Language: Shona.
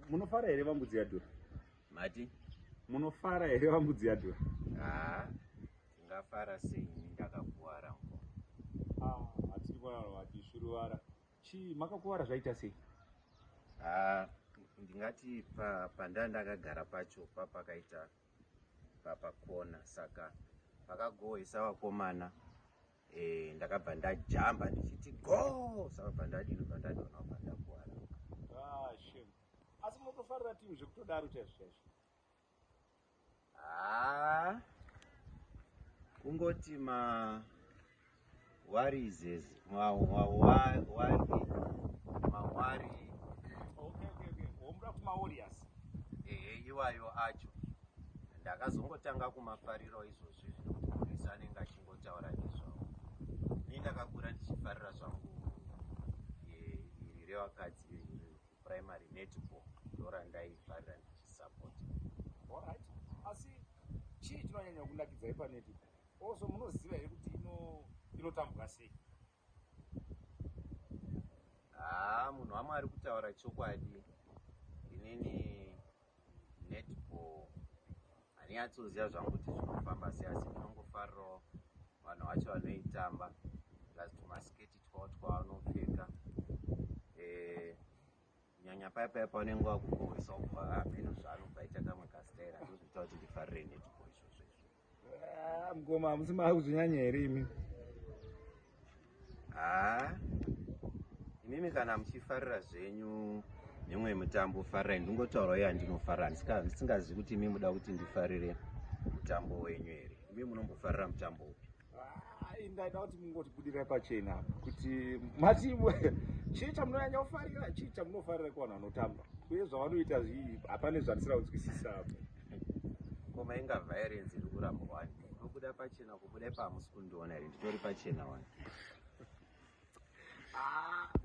munofara here vambudzi yadhura mati munofara here vambudzi yadhura haa ndingafara sei ini ndakakuvara ngo ah, hatiri kuvarava vati suruvara chii makakuvara zvaita sei haa ndingati pandaa ndakagara pacho papakaita papakona saka pakagohwesa vakomana eh ndakabva ndajamba ndichiti go sakabva ndadini bva ndadona kubva ndakuwara ah shame asi motofarira team zvekutodaro chaizvo chaizvo ah kungoti ma warizes ma wa wa wa ma wari okay okay okay omra kuma warriors eh iwayo acho ndakazongotanga kumafariro izvozvi zvinokuisa nengachi votaura nezvavo ini ndakakura ndichifarira zvangu iri revakadzi primary netball ndorandaifarira ndichisupport allright asi chii chinonyanya kunakidza yepanetball also munoziva here kuti inotambwa sei haa munhu wamwari kutaura chokwadi inini netball handinyatsoziva zvangu kuti zvinofamba sei asi ndinongofarirawo vanhu vacho vanoitamba plus tumasketi twavo twavanopfeka eh, nyanya paya paya paunenge wakukohwesa ubva hameno zvaanobva aita kamwe kastaira ndozviita kuti ndifarire netball izvozvo izvo Ah, mkoma hamusi mava kuzvinyanya here imi haa ah, imimi kana muchifarira zvenyu mimwe mitambo farirai ndingotaura uye andinofara ndisingazivi kuti imi muda kuti ndifarire mutambo wenyu here imi munombofarira mutambo upi ah, ndaida kuti mungotibudirai pachena apa kuti mati chii chamunonyanya kufarira chii chamunofarira kuvanhu vanotamba uye zvavanoita zvii hapane zvandisira kunzwisisa apo Koma inga violence iri kuramba wani. Unobuda pachena kubuda pamusi kundiona here nditori pachena wani. Ah.